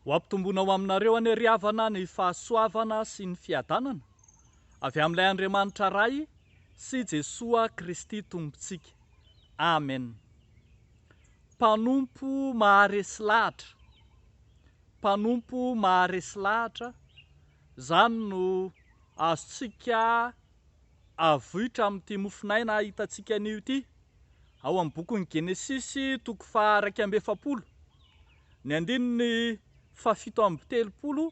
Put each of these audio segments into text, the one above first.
Ho ampitomboina ho aminareo anie ry havana ny fahasoavana sy ny fiadanana avy amin'ilay Andriamanitra Ray sy Jesoa Kristy Tompontsika. Amen. Mpanompo maharesy lahatra, Mpanompo maharesy lahatra, izany no azontsika avoitra amin'ity mofon'aina hitantsika anio ity, ao amin'ny bokin'ny Genesisy toko faha iraika amby efapolo, ny andininy fahafito amby telopolo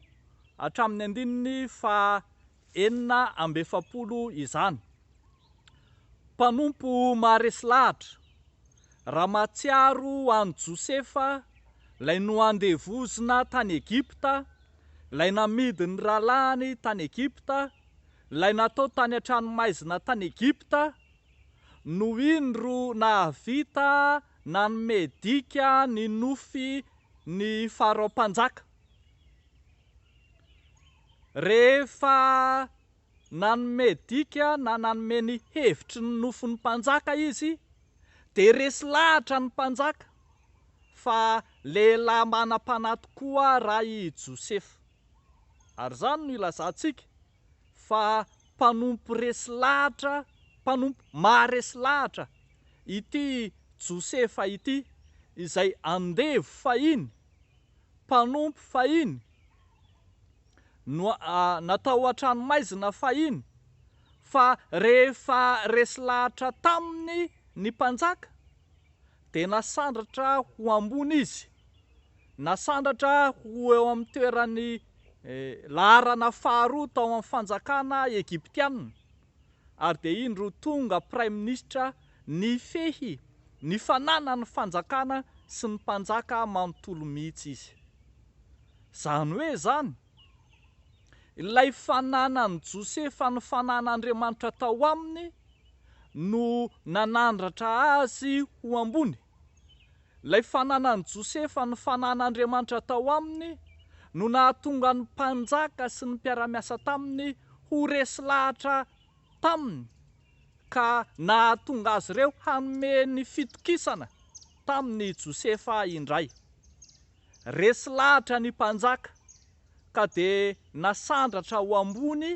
hatramin'ny andininy fahenina amby efapolo izany. Mpanompo maharesy lahatra, raha mahatsiaro an'i Josefa, ilay noandevozina tany Egypta, ilay namidin'ny rahalahiny tany Egypta, ilay natao tany an-tranomaizina tany Egypta, no indro nahavita nanome dika ny nofy ny Farao Mpanjaka. Rehefa nanome dika na nanome ny hevitry ny nofin'ny Mpanjaka izy dia resy lahatra ny Mpanjaka fa lehilahy manam-panahy tokoa raha i Josefa. Ary izany no ilazantsika. fa mpanompo resy lahatra, mpanompo maharesy lahatra ity Josefa ity, izay andevo fahiny, mpanompo fahiny, natao an-tranomaizina fahiny, fa rehefa resy lahatra taminy ny mpanjaka, Dia nasandratra ho ambony izy, nasandratra ho eo amin'ny toeran'ny laharana faharoa tao amin'ny fanjakana Egyptiana, ary dia indro tonga praiminisitra nifehy ny fananan'ny fanjakana sy ny mpanjaka manontolo mihitsy izy. Izany hoe izany, Ilay fananan'i Josefa ny fanan'Andriamanitra tao aminy no nanandratra azy ho ambony. Ilay fananan'i Josefa ny fanan'Andriamanitra tao aminy no nahatonga ny mpanjaka sy ny mpiara-miasa taminy ho resy lahatra taminy ka nahatonga azy ireo hanome ny fitokisana tamin'i Josefa indray. Resy lahatra ny mpanjaka, ka dia nasandratra ho ambony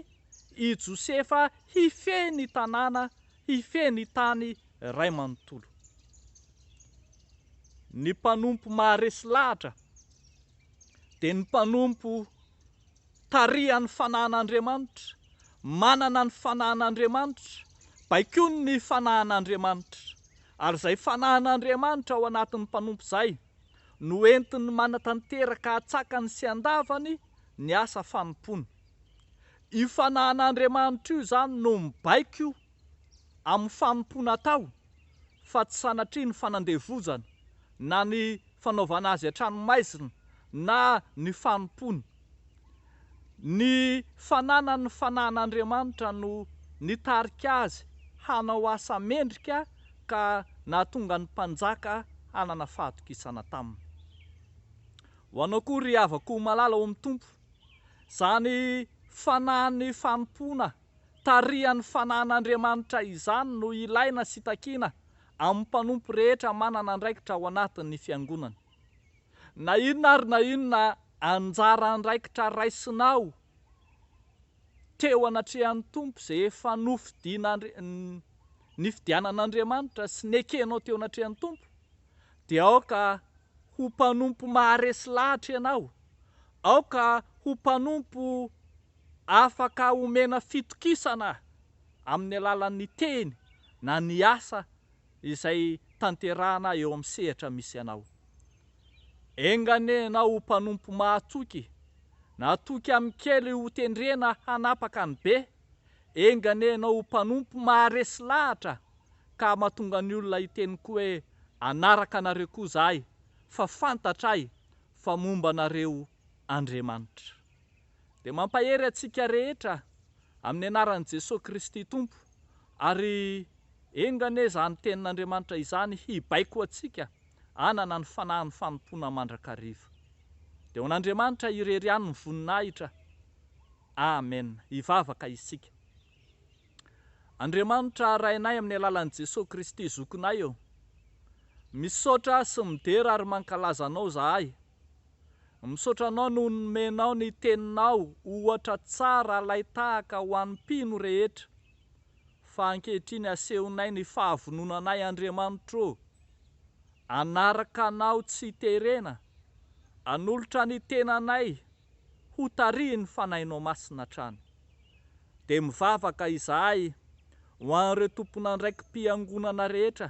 i Josefa hifehy ny tanàna, hifehy ny tany iray manontolo. Ny mpanompo maharesy lahatra dia ny mpanompo tarihan'ny fanahin'Andriamanitra, manana ny fanahin'Andriamanitra, baikoiny ny fanahin'Andriamanitra. Ary izay fanahin'Andriamanitra ao anatin'ny mpanompo izay, no entin'ny manatanteraka an-tsakany sy an-davany ny asa fanompoana. Io fanahan'Andriamanitra io izany no mibaiko amin'ny fanompoana atao fa tsy sanatria ny fanandevozana na ny fanaovana azy an-tranomaizina na ny fanompoana Ny fananany ny fanahin'Andriamanitra no nitarika azy hanao asa mendrika ka nahatonga ny mpanjaka hanana fahatokisana taminy. Ho anao koa ry havako malala ao amin'ny Tompo, izany fanahin'ny fanompoana tarihan'ny fanahin'Andriamanitra izany no ilaina sy takiana amin'ny mpanompo rehetra manana andraikitra ao anatin'ny Fiangonana. Na inona ary na inona anjara andraikitra raisinao teo anatrehan'ny Tompo izay efa nofidin'Andri nifidianan'Andriamanitra sy nekenao teo anatrehan'ny Tompo dia aoka ho mpanompo maharesy lahatra ianao, aoka ho mpanompo afaka omena fitokisana amin'ny alalan'ny teny na ny asa izay tanterahana eo amin'ny sehatra misy anao. Enga anie ianao ho mpanompo mahatoky, natoky amin'ny kely ho tendrena hanapaka ny be, enga anie ianao ho mpanompo maharesy lahatra ka mahatonga ny olona hiteny koa hoe anaraka anareo koa izahay fa fantatray fa momba anareo Andriamanitra. dia mampahery antsika rehetra amin'ny anaran'i Jesoa Kristy Tompo, ary enga anie izany tenin'Andriamanitra izany hibaiko antsika hanana ny fanahin'ny fanompoana mandrakariva. Dia ho an'Andriamanitra irery ihany ny voninahitra. Amen. Hivavaka isika. Andriamanitra Rainay amin'ny alalan'i Jesoa Kristy Zokinay ô, misaotra sy midera ary mankalaza Anao zahay, Misaotra anao noho ny nomenao ny teninao ohatra tsara alaitahaka ho an'ny mpino rehetra fa ankehitriny asehonay ny fahavononanay Andriamanitro ô! Hanaraka anao tsy terena, hanolotra ny tenanay ho tarihin'ny Fanahinao Masina hatrany. dia mivavaka izahay ho an'ireo tompon'andraiki-piangonana rehetra,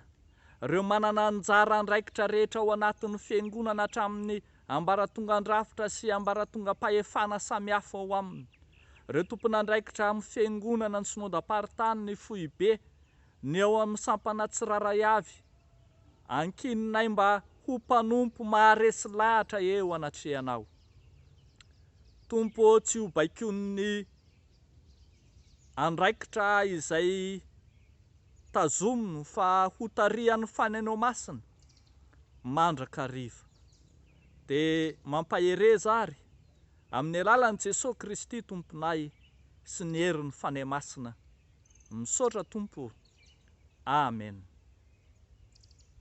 ireo manana anjara andraikitra rehetra ao anatin'ny Fiangonana hatramin'ny ambaratongan-drafitra sy ambaratongam-pahefana samihafa ao aminy, ireo tompon'andraikitra amin'ny Fiangonana, ny Synodam-paritany, ny Foibe, ny ao amin'ny sampana tsirairay avy. Ankininay mba ho mpanompo maharesy lahatra eo anatrehanao. Tompo ô tsy ho baikoin'ny andraikitra izay tazominy fa hotarihan'ny faneno masina mandrakariva. Dia mampahereza ary amin'ny alalan'i Jesoa Kristy Tomponay sy ny herin'ny Fanahy Masina. Misaotra Tompo ô. Amen.